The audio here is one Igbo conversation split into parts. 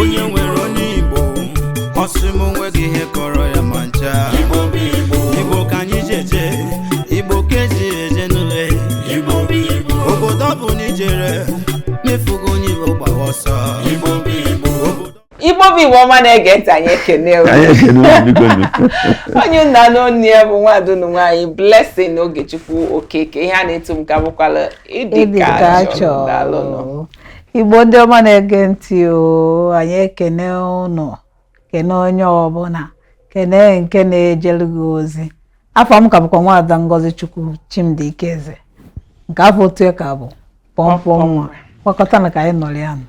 onye nwere onye igbo ọ sị m o nweghị ihe kọrọ ya ma ncha igbo ka anyị ji eje igbo ka eji eje n'ule obodo ọ bụ na ijere mefugo onye igbo gbawa ọsọ igbo bụ igbo ọma na-ege ntị anyị ekene onye unu na-anụ onu ya bụ nwaada unu nwaanyị Blessing Ogechukwu Okeke ihe a na-etu m ka bụkwala ịdị ka achọ Igbo ndị ọma na-ege ntị o anyị ekene ụnụ kene onye ọbụla kene nke na-ejere gị ozi afa m ka bụkwa nwaada Ngozi Chukwu Chimdi Ikeze nke afa otutu ya ka bụ pọmpọ nwa gbakọtanụ ka anyị nọrọ ya nọ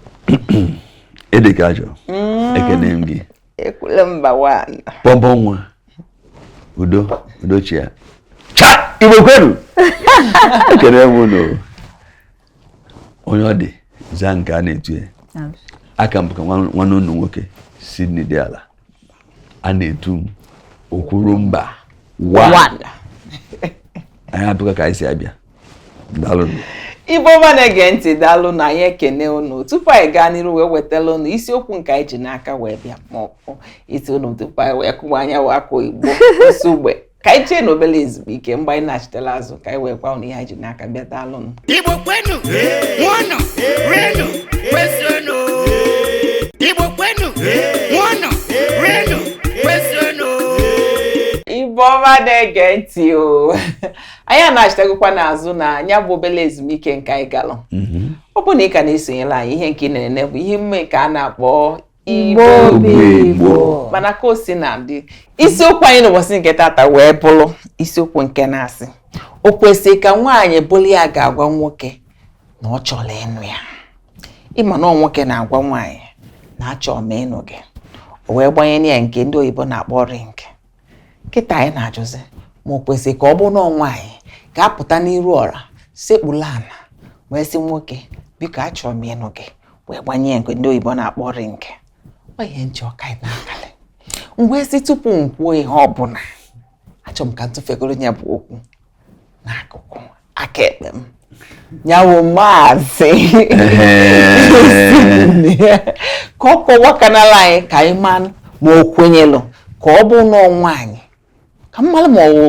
ịdị ka achọ mm. ekene m gị okwuru mba one pọmpọ nwa udo udochi ya cha igbo kwenu ekene m ụnụ onye ọ dị zaa nke a na-etu ya aka m bụkwa nwanne unu nwoke Sydney Diala a na-etu m okwuru mba one anyị abịakwa ka anyị si abịa daalụ igbo ọma na-ege ntị daalụnụ anyị ekene unu tupu anyị gaa n'iru wee wetala unu isiokwu nke anyị ji n'aka wee bịa ma ọ bụ iti unu tupu anyị wee kụwa anya wakwa igbo osu ka anyị jee n'obere ezumike mgbe anyị nachitela azụ ka anyị wee gwa ụnụ ihe anyị ji n'aka bịa daalụnụ Igbo kwenu, ṅụọnụ, rienụ, kwezuonụ. Igbo kwenu, ṅụọnụ, rienụ, kwezuonụ. ibe ọma na-ege ntị o anyị anachitegokwanụ azụ na ya bụ obere ezumike nke anyị galụ ọ bụ na ị ka na-esonyela anyị ihe nke ị na-enene bụ ihe omume nke a na-akpọ igbo bụ igbo mana ka o si na-adị isiokwu anyị n'ụbọchị nke tata wee bụrụ isiokwu nke na-asị o kwesịrị ka nwaanyị bụrụ ya ga-agwa nwoke na ọ chọrọ ịnụ ya ị ma na ọ nwoke na-agwa nwaanyị na achọrọ m ịnụ gị o wee gbanye ya nke ndị oyibo na-akpọ ring kịta anyị na-ajụzi ma o kwesịrị ka ọ bụrụ na nwaanyị ga-apụta n'iru ọra sekpula ala wee sị nwoke biko achọrọ m ịnụ gị wee gbanye ya nke ndị oyibo na-akpọ ring ọ ihe m chọ ka anyị na-akalị m wee sị tupu m kwuo ihe ọ bụla achọrọ m ka m tụfegodu ya bụ okwu n'akụkụ aka ekpe m nya wụ maazị ka ọ kọwakanala anyị ka anyị ma ma o kwenyelụ ka ọ bụ na nwaanyị ka m malụ ma ọ wụ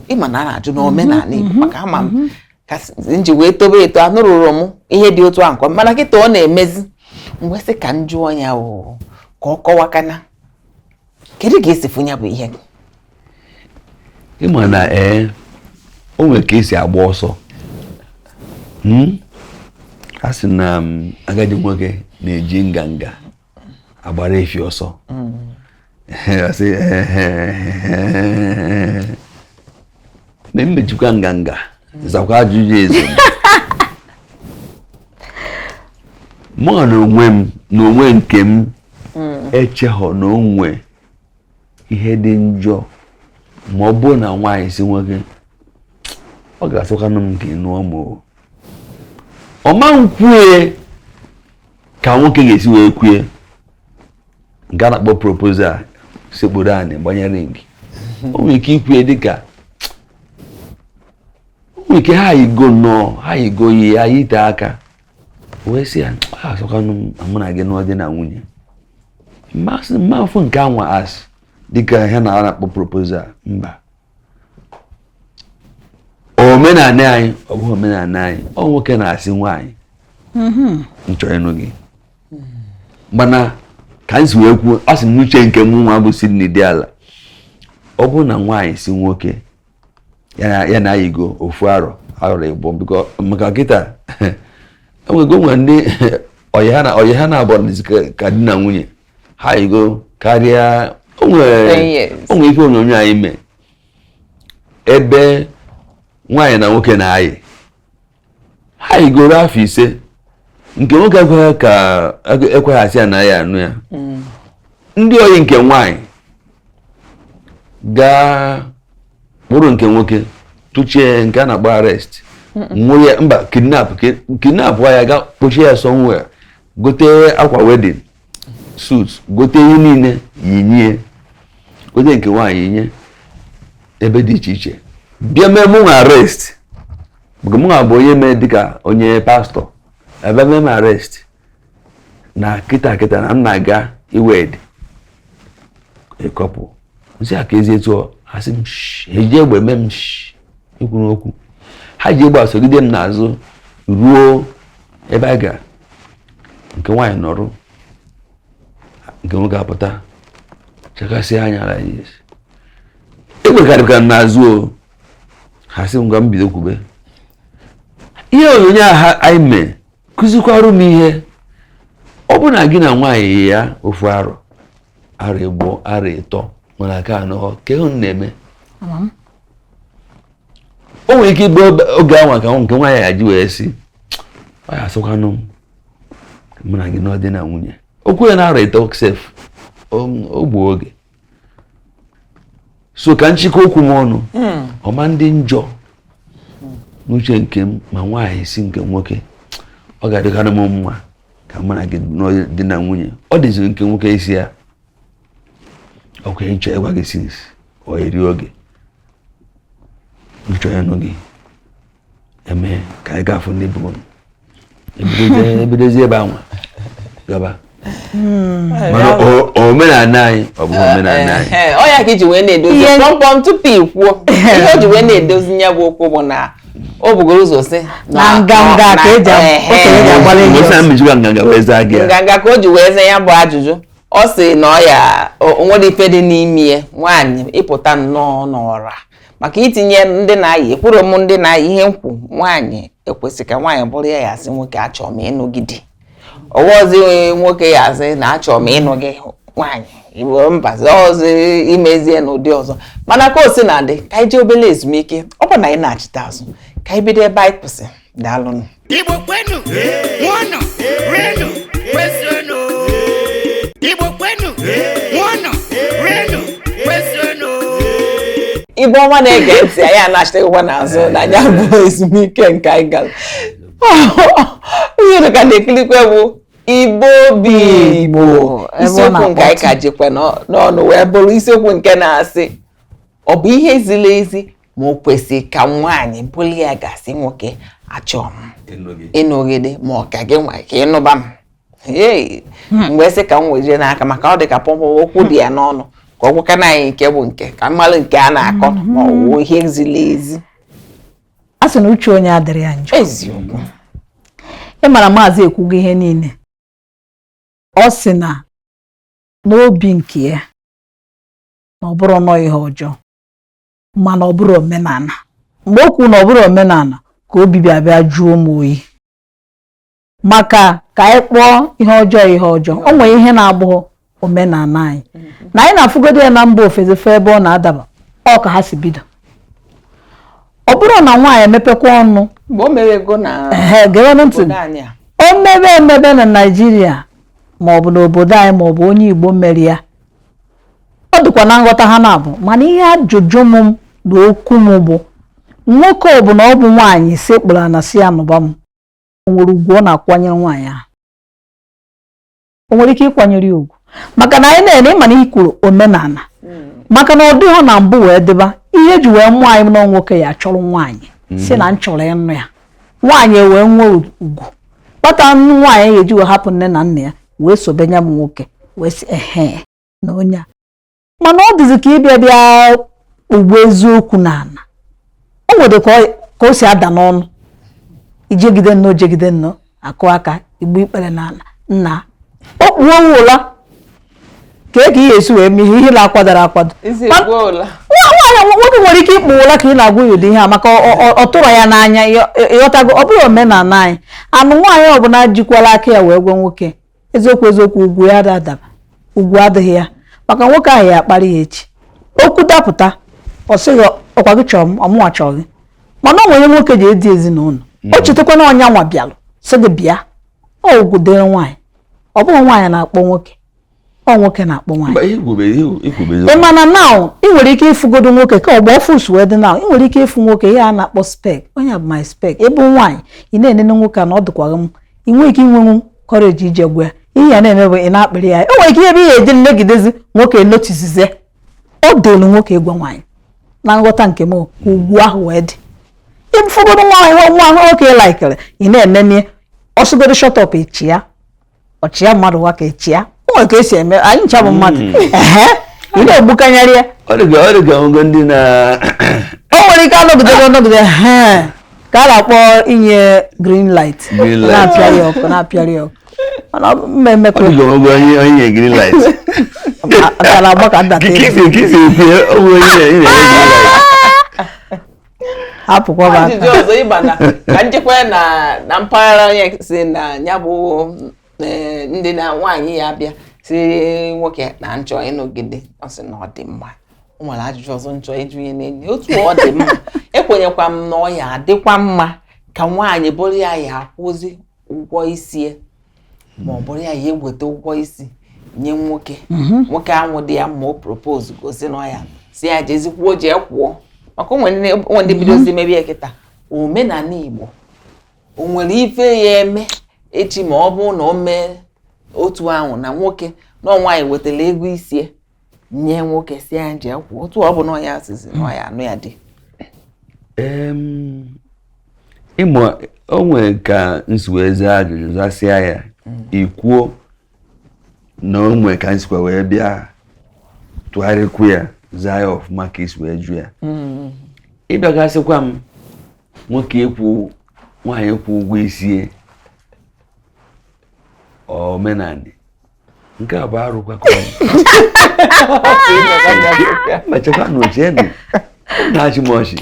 ị ma na a na-ajụ n'omenala mhm, Igbo mhm, maka ama m mhm. ka m ji wee tobe eto anụrọ m ihe dị otu ahụ mana kịta ọ na-emezi m wee sị ka m jụọ ya ka ọ kọwakana kedu ka i si fụ ya bụ ihe ị ma na ee o nwere ka e si agba ọsọ hmm? a sị na um, agadi nwoke na-eji nganga agbara efi ọsọ hmm. na m mejikwa nganga zakwa ajụjụ eze mụ na onwe m na onwe nke m hmm. echeghọ na o nwe ihe dị njọ ma ọ bụrụ na nwaanyị sị nwoke ọ ga-asọkwanụ m ka ị nụọ m o ọ ma nkwue ka nwoke ga-esi wee kwue nke a na-akpọ proposal sekpuru anị gbanye ring o nwere ike ikwu ya dịka o nwere ike ha yigo nnọọ ha yigo yi ya yite aka wee sị ya asọkwanụ mụ na gị nọọ di na nwunye m ma sị m ma fụ nke anwa as dịka ihe na a na-akpọ proposal mba omenala anyị ọ bụghị omenala anyị ọ nwoke na-asị nwaanyị mm-hmm. m chọrọ ịnụ gị mana ka m si wee kwuo asị m uche nke mụnwa bụ Sydney Diala ọ bụrụ na nwaanyị sị nwoke ya na a yigo ofu arọ arọ ịbụọ because maka kịta e nwego nwe ndị ọyị ha na-abụ ka di na nwunye ha yigo karịa o nwere ife onyonyo anyị mee ebe nwaanyị na nwoke na-ayi ha yigoro afọ ise nke nwoke ekweghị ka ekweghị asị ya na ya anụ ya mm. ndị ọyị nke nwaanyị gaa kpụrụ nke nwoke tụchie nke a na-akpọ arrest nwụrụ ya mba kidnap kidnap ya gaa kpọchie ya somewhere gote akwa wedding suit gote ihe niile yinye gote nke nwaanyị yinye ebe dị iche iche bịa mee mụnwa arrest because mụnwa bụ onye mee dịka onye pastor a bịa mee m arrest na kịta kịta na m na-aga iwed couple m sị a ka ezi etu ha sị m ha eji egbe mee m ikwu n'okwu ha ji egbe asogide m n'azụ ruo ebe a gara nke nwaanyị nọrụ nke nwoke apụta chakasị anya ala egbe ka rịbikwa n'azụ o ha sị m ngwa m bido kwube ihe onyonyo ahụ anyị mee kụzikwarụ m ihe ọ bụ na gị na nwaanyị ya ofu arọ arọ ịbụọ arọ ịtọ mana aka anọ ka ihe na-eme o nwere ike ịbụ oge ahụ ka nke nwaanyị ya-eji wee sị oya sịkwanụ m mụ na gị nụọ di na nwunye okwu ya na arọ ịtọ sef o gbuo oge so ka m chịkọọ okwu m ọnụ hmm. ọ ma-adị njọ n'uche nke m ma nwaanyị sị nke nwoke ọ ga-adịkarị m mma ka mụ na gị di na nwunye ọ dịziri nke nwoke ịsị ya ọkwa m chọ ịgwa gị since or eri oge m chọ ịnụ gị e mee ka anyị ga-afụ ndị bụ e bidozie ebe anwa gaba hmm. mana omenala anyị ọ bụghị eh, omenala anyị eh, eh, ọ ya ka i ji wee na-edozi kpọmkpọm tupu ị kwuo ihe o ji wee na-edozi ya bụ okwu bụ na o bugoro ụzọ sị na nganga ka e ji nganga ka o ji wee zee ya bụ ajụjụ ọ sị na ọ ya o nwere ife dị n'ime ya nwaanyị ịpụta nnọọ n'ọra maka itinye ndị na-ayị ekwuru m ndị na-ayị ihe nkwu nwaanyị ekwesị ka nwaanyị bụrụ ya ya-asị nwoke achọọ m ịnụ gị di ọ bụzị nwoke ya-asị na achọọ m ịnụ gị nwaanyị igbo mbazi ọzọ i mezie n'ụdị ọzọ mana ka o sina dị ka anyị jee obere ezumike ọ bụ na anyị nachite azụ ka anyị bido ebe anyị kwụsị daalụnụ Igbo kwenu ṅụọnụ rienụ kwezuonụ Igbo kwenu ṅụọnụ rienụ kwezuonụ Igbo ọma na-ege ntị anyị anachitegokwanụ azụ na ya bụ ezumike nke anyị gara ihe unu ka na-ekilikwa bụ Igbo bụ Igbo isiokwu nke anyị ka jikwa n'ọnụ wee bụrụ isiokwu nke na-asị ọ bụ ihe ziri ezi ma o kwesị ka nwaanyị bụrụ ya ga-asị nwoke achọ m ịnụ gị di ma ọ ka gị nwa ka ị nụba m hmm. m wee sị ka m wejie n'aka maka ọ dị ka pọpọ okwu dị ya n'ọnụ ka ọ gwakwanụ anyị nke bụ nke ka m malụ nke a na-akọ hmm. ma ọ wụ ihe ziri ezi a sị na uche onye adịrọ ya njọ eziokwu ị mara maazị ekwugo ihe niile ọ sị na n'obi nke ya na ọ bụrọ nnọọ ihe ọjọọ mana ọ bụrọ omenala mgbe o kwuru na ọ bụrọ omenala ka obi bịa bịa jụọ m oyi maka ka anyị kpọọ ihe ọjọọ ihe ọjọọ o nwere ihe na-abụghị omenala anyị na anyị na-afụgodo ya na mba ofesi fee ebe ọ na-adaba ọ ka ha si bido ọ bụrụ na nwaanyị emepekwa ọnụ o mebe emebe na Naijiria maọbụ n'obodo anyị maọbụ onye Igbo mere ya ọ dịkwa na nghọta ha na-abụ mana ihe ajụjụ m na okwu m bụ nwoke ọ bụla ọ bụ nwaanyị sekpụrụ na-asị ya nụba m o nwere ugwu ọ na-akwanyere nwaanyị ahụ o nwere ike ịkwanyere ya ugwu maka na anyị na-ene ịma na ikwuru omenala maka na ọ dịghị na mbụ wee dịba ihe ji wee mụọ anyị na nwoke ya-achọrọ nwaanyị mm. sị na m chọrọ ịnụ ya nwaanyị wee nwee ugwu kpata nwaanyị ga-eji wee hapụ nne na nna ya wee sobe nya bụ nwoke wee sị ehe na onye a mana ọ dịzi ka ịbịa bịa ugbo eziokwu n'ala o nwere ka o si ada n'ọnụ i jegide nnọọ jegide nnọọ akụ aka igbu ikpere n'ala nna o kpuo ụla ka e ka ihe e si wee mee ihe ihe na-akwadoro akwado nwoke nwere ike ịkpụ ụla ka ị na-agwa ya ụdị ihe a maka ọ tụrụ ya n'anya ịghọtago ọ bụghị omenala anyị anụ nwaanyị ọbụla jikwala aka ya wee gwa nwoke eziokwu eziokwu ugwu ya adaba ugwu adịghị ya maka nwoke ahụ ya-akparị ya echi okwu dapụta ọ sị gị ọ kwa gị chọrọ m ọ mụnwa chọrọ gị mana ọ nwere nwoke ji edu ezinụlọ hmm. o chetakwa na ọ nyanwa bịalụ sị gị bịa ọ ugwu dịrị nwaanyị ọ bụghị nwaanyị na-akpọ nwoke ọ nwoke na-akpọ nwaanyị ị ma na now ị nwere ike ịfụgodo nwoke ka agba ọfụụ si wee dị now ị nwere ike ịfụ nwoke ihe a na-akpọ spec onye bụ my spec ị bụ nwaanyị ị na-enene nwoke a na ọ dịkwaghị m ị nwere ike inwenwu courage ije gwa ya ihe ị ya na-eme bụ ị na-akpịrị ya e nwere ike ebe ihe eji nnegidezi nwoke noticezie ọ dịlụ nwoke ịgwa nwaanyị na nghọta nke m ugwu ahụ wee dị ịfụgodo nwa ahụ nwa ahụ nwoke likere ị na-enene ọ sịgodu shut up ị chịa ọ chịa mmadụ nwa ka ị chịa o nwere ka e si eme anyị ncha bụ mmadụ ehe ị na-egbukenyere ya ọ dịka ọ dịka ngo ndị na o nwere ike anọgidebe ọ nọgide ihe a ka a na-akpọ inye green light Green light. na-apịarị ọkụ na-apịarị ọkụ mana ọ bụ mmemme ọ dịka ngo onye onye nye green light ka na-agba ka ndata kisi kisi ekwu ya o nwere onye nye nye green light hapụkwaba ajụjụ ọzọ ịgba na ka m jekwaa na na mpaghara onye sị na ya bụ e, ndị na nwaanyị ya-abịa sị nwoke na m chọ ịnụ gị di ọ sị na ọ dị mma o nwere ajụjụ ọzọ m chọ ịjụ ihe na-enye otu ọ dị mma ekwenyekwa m na ọ ya-adịkwa mma ka nwaanyị bụrụ ya ya-akwụzi ụgwọ isi ya ma ọ bụrụ ya ya-eweta ụgwọ isi nye nwoke mhm. nwoke ahụ di ya ma o proposego sị nụọ ya sị ya jezikwuo jee kwụọ maka o nwe ndị bidozi mhm. mebe ya kịta omenala Igbo o nwere ife ya-eme echi ma ọ bụ na o mee otu ahụ na nwoke na nwaanyị wetara ego isi ya nye nwoke sị ya jee kwụọ otu ọ bụ na ọ ya-asịzi na ọ ya-anụ ya di ị ma o nwere ka n si wee zaa ajụjụ zasịa ya mm. i kwuo na o nwere ka n sikwa wee bịa tụgharịkwu ya zaa ya ọfụma ka i si wee jụ ya mm. ị bịa ga-asịkwa m nwoke ịkwụ nwaanyị ịkwụ ụgwọ isi e omenani nke a bụ arụkwa ka m chekwanụ chenụ na-achị m ọchị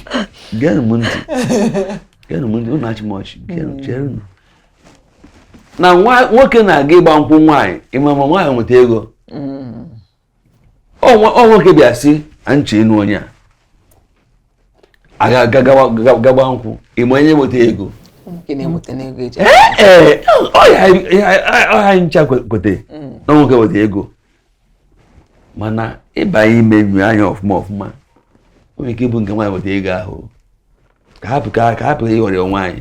geenụ m ntị geenụ m ntị unu achị m ọchị geenụ cherenụ na nwoke na-aga ịgba nkwụ nwaanyị ị ma ma nwaanyị nweta ego ọ nwoke bịa sị chenụ onye a ga-agba nkwụ ị ma onye nweta ego ọha ncha kwete mm. na nwoke nweta ego mana ị ba ime nyo anya ọfụma ọfụma o nwere ike ịbụ nke nwaanyị nweta ego ahụ ka hapụ ka hapụ ịghọrị nwaanyị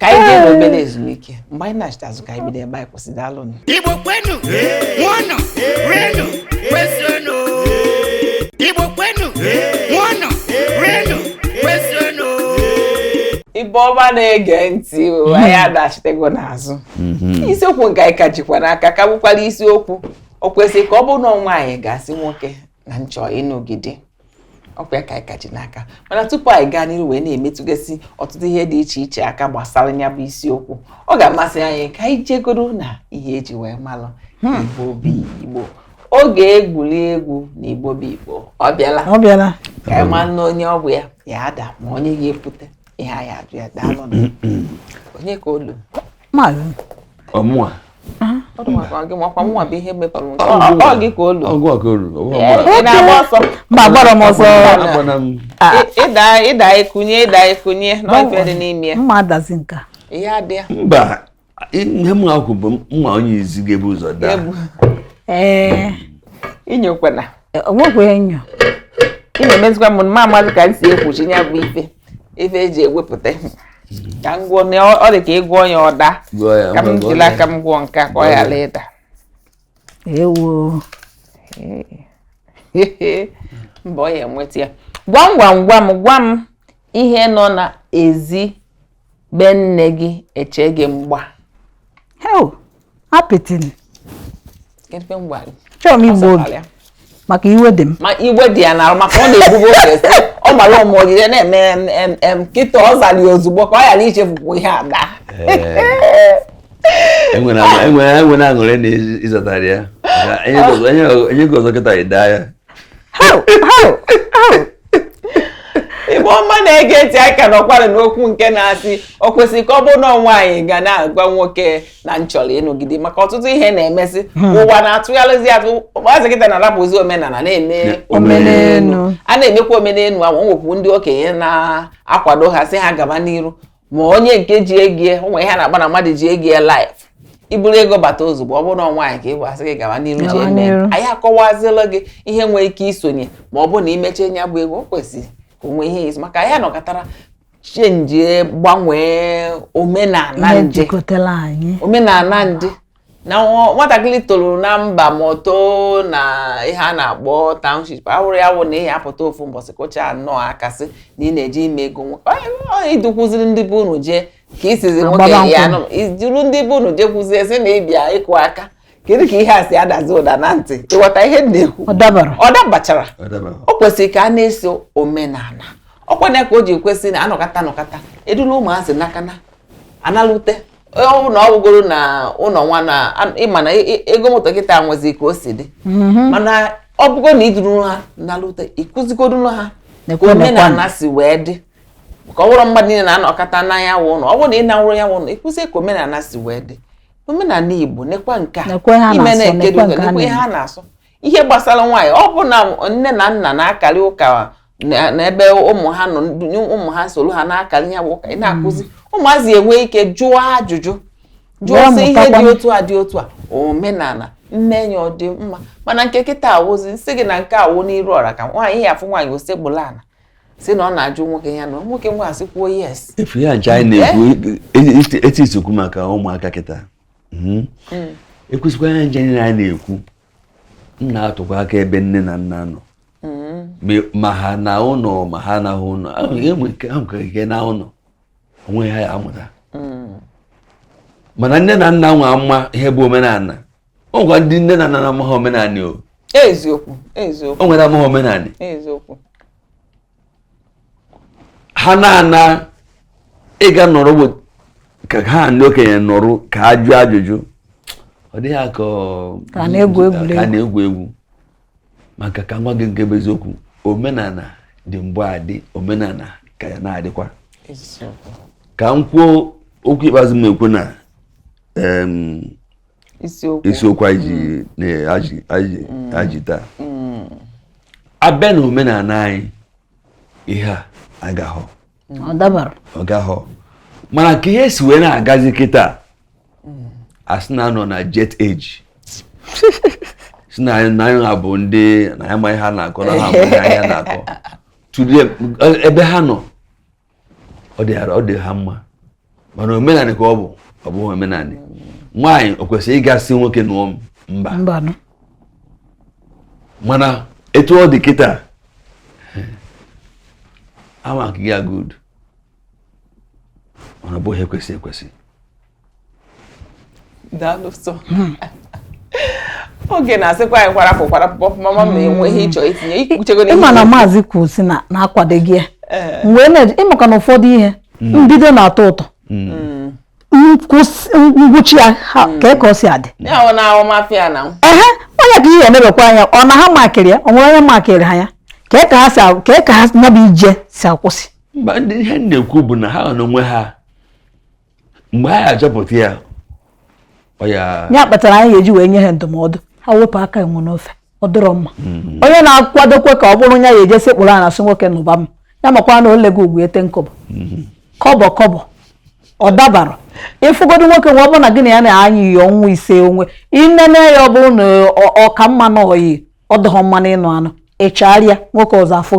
ka anyị jee n'obele ezumike mgbe anyị nachite azụ ka anyị bido ebe anyị kwụsị daalụnụ Igbo kwenu, ṅụọnụ, rienụ, kwezuonụ. Igbo kwenu, ṅụọnụ, rienụ, kwezuonụ. ibe ọma na-ege ntị o anyị anachitego n'azụ isiokwu nke anyị ka jikwa n'aka ka bụkwara isiokwu o kwesịrị ka ọ bụrụ na nwaanyị ga-asị nwoke na n chọ ịnụ gị di ọ kwa ya ka anyị ka ji n'aka mana tupu anyị gaa n'iru wee na-emetụgasị ọtụtụ ihe dị iche iche aka gbasara ya bụ isiokwu ọ ga-amasị anyị ka anyị jegodu na ihe eji wee malụ hmm. igbo bụ igbo oge egwuri egwu na igbo bụ igbo ọ bịala ọ bịala ka anyị malụ na onye ọ bụ ya ya-ada ma onye ga-ekwute ihe anyị ajụ ya daalụ onye ka o lu ọ mụa mba agbara m ọsọ ịda ekunye ịda ekunye na ife dị n'ime mma adazi nka mba ihe m akwụ bụ mma onye izizi ga-ebu ụzọ daa ee inyokwana onwekwa enyo ị na-emezikwa m mma amazi ka m si ekwuchi ya bụ ife ife eji ewepụta ka m gwụọ ọ dị ka ị gwụọ ya ọ daa ka m jiri aka m gwụọ nke ka ọ ghara ịda ewo mba ọ ya-enweta ya gwam gwam gwam gwa m ihe nọ n'ezi be nne gị eche gị mgba hel apịtị kedụ mgba gị chọrọ m igbu oge maka iwe dị m ma iwe dị ya n'arụ maka ọ na-ebubo oge si ọ mara ụmụ ojije na-eme kịta ọ zara ya ozugbo ka ọ ghara ichefukwu ihe ada enwere aṅụrị na ịzọtara ya onye gị ọzọ kịta ịda ya Igbo ọma na-ege ntị anyị ka nọkwara n'okwu nke na-asị o kwesịrị ka ọ bụrụ na nwaanyị ga na-agwa nwoke na m chọrọ ịnụ gị di maka ọtụtụ ihe na-emesị hmm. ụwa na-atụgharịzi atụ ụmụazị kịta na-arapụzi omenala na-eme omenelu a na-emekwa omenelu ahụ nwekwu ndị okenye na-akwado ha sị ha gaba n'iru ma onye nke ji ego ya o nwe ihe na-agba na mmadụ ji ego ya life i buru ego bata ozugbo ọ bụrụ na nwaanyị ka ị bụ a sị gị gawa n'iru ji eme anyị akọwazila gị ihe nwee ike isonye ma ọ bụ na i meche nya bụ ego o kwesịrị ka o nwee ihe izu maka ya nọkatara chenjie gbanwee omenala ndị omenala ndị na nwatakịrị toro na mba ma o too na ihe a na-akpọ township awụrụ ya wụ na ihe apụta ofu mbọsị kụcha anọ akasị na ị na-eji ime ego i dukwuziri ndị be unu jee ka isizi nwoke ya duru ndị be unu jee kwuzie sị na ị bịa ịkụ aka kedu ka ihe a si adazi ụda na ntị ị ghọta ihe m na-ekwu ọ dabachara o kwesịrị ka a na-eso omenala ọ kwa nya ka o ji kwesị na anọkata anọkata eduru ụmụazị n'aka na analute ọ bụ na ọ bụgoro na ụlọ nwa na ị ma na ego moto kịta nwezi ka o si dị mhm. mana ọ bụgoro na i duru ha nalute ị kụzigoro ha ka omenala si wee dị ka ọ bụrụ mmadụ niile na-anọkata na nya wụ ụlọ ọ bụrụ na ị na-awụrụ ya wụ ụlọ ịkụzi ka omenala si wee dị omenala Igbo nekwa nke a ime na-ekedo nekwa ihe a na-asọ ihe gbasara nwaanyị ọ bụ na nne na nna na-akarị ụka n'ebe ụmụ ha nọ ụmụ ha soro ha na-akarị ya bụ ụka ị na-akụzi hmm. ụmụazị enwee ike jụọ ajụjụ jụọ sị ihe dị otu a dị otu a omenala nne enyi ọ dị mma mana nke kịta a wụzi m sị gị na nke a wụ n'iru ọra ka nwaanyị ya afụ nwaanyị o sekpula ala sị na ọ na-ajụ nwoke ya na nwoke nwa asị kwuo yes efu ya ncha anyị na-ekwu eh? e, e, e, eti isokwu maka ụmụaka kịta hmm? hmm. e kwesịkwa ya ncha anyị na-ekwu m na-atụkwa aka ebe nne na nna nọ hmm. ma ha na ụlọ ma ha anaghị ụlọ ahụkara ike na ụlọ o nwe ihe ha ya-amụta mana nne na nna nwa ama ihe bụ omenala o nwekwa ndị nne na nna na-amaghị omenala o eziokwu eziokwu o nwere amaghị omenala eziokwu ha na-ana ịga nọrọ be ndị okenye nọrọ ka ha jụọ ajụjụ ọ dị ha ka a na-egwu egwu maka ka m gwa gị nke bụ eziokwu omenala dị gboo adị omenala ka ya na-adịkwa ka m kwuo okwu ikpeazụ m na-ekwu na isiokwu anyị ji taa abịa na omenala anyị ihe a agahọ ọ gahọ mana ka ihe si wee na-agazi kịta a sị na a nọ na jet age si na anyị ha bụ ndị na ya ma ihe ha na-akọ na ha bụ ihe anya na-akọ ebe ha nọ ọ dị ọ dị ha mma mana omenanị ka ọ bụ ọ bụghị omenanị nwaanyị o kwesịrị ịga sị nwoke nụọ m mba mana etu ọ dị kịta ama ka ya good mana ọ bụghị ihe kwesị ekwesị daalụ sọ hmm. oge na-asịkwa anyị kwara afọ kwara pọmpọm ama m na-enwe ihe ị chọ itinye i kwuchego n'ihe ị ma na maazị kwuru sị na ya akwadoghị ya eh. wee na-eji maka na ụfọdụ ihe hmm. mbido na-atọ ụtọ hmm. ngwụcha ya ka ka ọ si adị ehe onye ka ihe e nebekwa anya ọ na ha makịrị ya o nwere onye makịrị ha ya ka ka ha si ka ka ha nya bụ ije si akwụsị ihe m na-ekwu bụ na ha nọ n'onwe ha mgbe anyị achọpụta ya ya kpatara anyị ga-eji wee nye ha ndụmọdụ ha wepụ aka enwe n'ofe ọ dịrọ mma mm-hmm. onye na-akwadokwe ka ọ bụrụ ya ya eje sekpụrụ ana sị nwoke nụba m ya makwa na o lego ugwu ya ten kọbọ mm-hmm. kọbọ kọbọ ọ dabarọ ị fụgodu nwoke nwa ọ bụrụ na gị na ya na-ayị oyi ọnwa ise onwe i nene ya ọ bụrụ na ọ ka mma n'oyi ọ dịghọ mma n'ịnụ anụ ị chaara nwoke ụzọ ọ fụ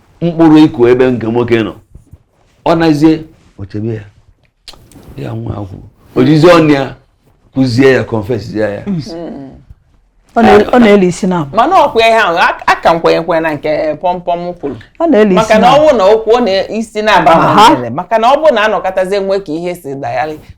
mkpụrụ ị kụ ebe nke nwoke nọ ọ nazie o chebe ya ya nwa akwụ o jizi ọnụ ya kwuzie ya confess zie ya ọ na-eli isi na mana ọ kwa ihe ahụ ka m kwenyekwe na nke pọmpọm kwuru maka na ọ bụ n'okwu ọ na-isi na-aba maka na ọ bụrụ na a nọkatazie nwe ka ihe si dayali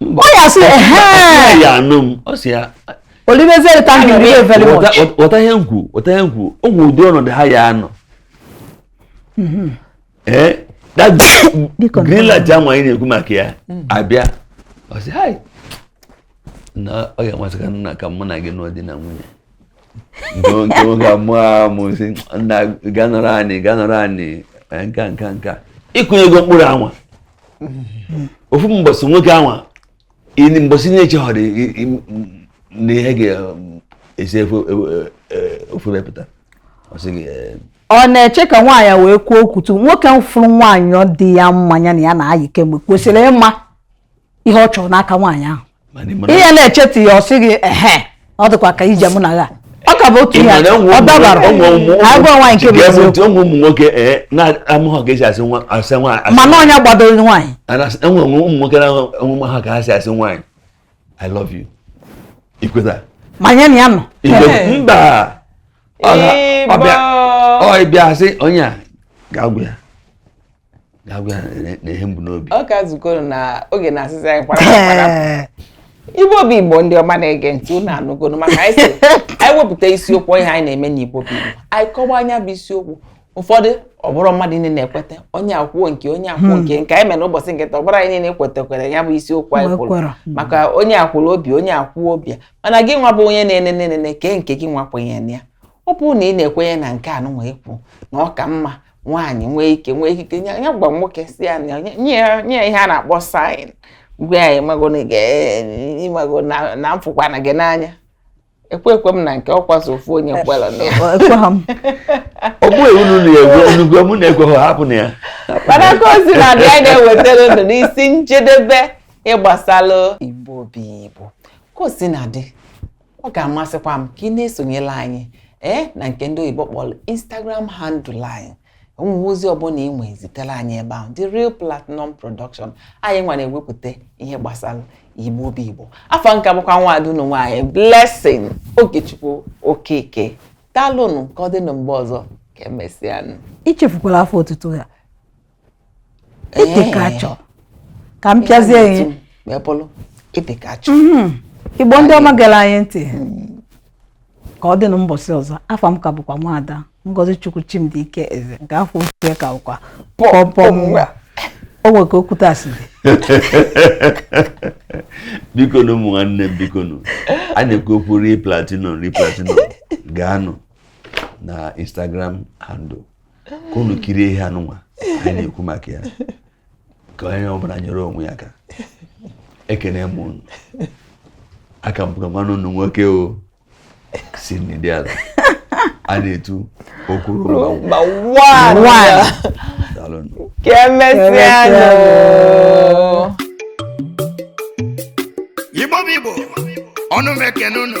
ọ ya sị ehe ya anụ m ọ sị ya olimeziere thank you very much wọta ihe m kwu wọta ihe m kwu o nwere ụdị ọnọdụ ha ya anọ mm-hmm. ee eh, that green light ahụ anyị na-ekwu maka ya mm. abịa ọ sị hai na ọ ga-amasị ka nna ka mụ na gị nụọ di na nwunye nke nwoke amụọ amụ sị nna ganọrọ anyị ganọrọ anyị nka nka nka ị kụnyego mkpụrụ anwa ofu mbọsị nwoke anwa mbọsị na-echeghọrị na ihe ga-esi efe ofu mepụta ọ sị gị ọ na-eche ka nwaanyị wee kwuo okwu tu nwoke fụrụ nwaanyị ọ dị ya mma nya na ya na-ayị kemgbe kwesịrị ịma ihe ọ chọrọ n'aka nwaanyị ahụ ihe na-echeta ya ọ sị gị ehe ọ dịkwa ka ije mụ na ya ọ ka bụ otu ihe ọ dabara agwa nwaanyị nke bụ eziokwu ụmụ nwoke eh, na-amụghọ ka e si asị nwaanyị mana onye gbadoro nwaanyị e nwe ụmụ nwoke na-enwe ha ka ha si asị nwaanyị I love you ikweta ma nya na ya nọ mba ọ bịa sị onye a ga-agwa ya ọ ka zukọrọ na oge na-asịsị anyị kwara igbo bụ igbo ndị ọma na-ege ntị unu anụgonu maka anyị sị anyị wepụta isiokwu ihe anyị na-eme na igbo bụ igbo anyị kọwa nya bụ isiokwu ụfọdụ ọ bụrọ mmadụ niile na-ekweta onye ekwuo nke onye ekwuo hmm. nke nke anyị mere n'ụbọchị nke taa ọ bụrọ anyị niile kwetakwara ya bụ isiokwu anyị kwuru hmm. maka onye ekwuo obi onye ekwuo obi mana gị nwa bụ onye na-enene nene kee nke gị nwa kwenyere ya ọ bụrụ na ị na-ekwenye na nke anụnwa ekwu na ọ ka mma nwaanyị nwee ike nwee ikike ya gwa nwoke sị ya nye ya ihe a na-akpọ sign gwa ya ịmago na m fụkwana gị n'anya ekwe ekwe m na nke ọ kwa sọ ofu onye kwere na ọ bụghị unu na-egwe unu gwe mụ na-ekweghị hapụ na ya mana ka o si na dị anyị na-ewetara unu n'isi njedebe ihe gbasalụ igbo bụ igbo ka o si na dị ọ ga-amasịkwa m ka ị na-esonyela anyị ee na nke ndị oyibo kpọrọ Instagram handle anyị o nwee ozi ọbụla ị nwee zitere anyị ebe ahụ The Real Platinum Production anyị nwa na-ewepụta ihe gbasara igbo bụ igbo afa m ka bụkwa nwaada unu nwaanyị Blessing Okechukwu Okeke daalụnụ ka ọ dịnụ mgbe ọzọ ka emesịanụ i chefukwala afa otutu ya ịdị ka achọ ka m pịazie ihe wee bụrụ ịdị ka achọ mhm. igbo ndị ọma gere anyị ntị hmm. ka ọ dịnụ mbọsị ọzọ afa m ka bụkwa nwaada ngozi chukwu chimdi ike eze nke afa ochie ka bụkwa pọmpọm nwa o nwere ka okwu taa si dị biko nụ ụmụ nwanne m biko nụ a na-ekwu okwu Real Platinum Real Platinum gaanụ na instagram handle ka unu kirie ihe anụnwa anyị na-ekwu maka ya ka onye ọbụla nyere onwe ya aka ekene m unu a ka m bụkwa nwanne unu nwoke o si n'ịdị ala a na-etu okwuru mba ka emesịa igbo bụ igbo ọnụ m ekene unu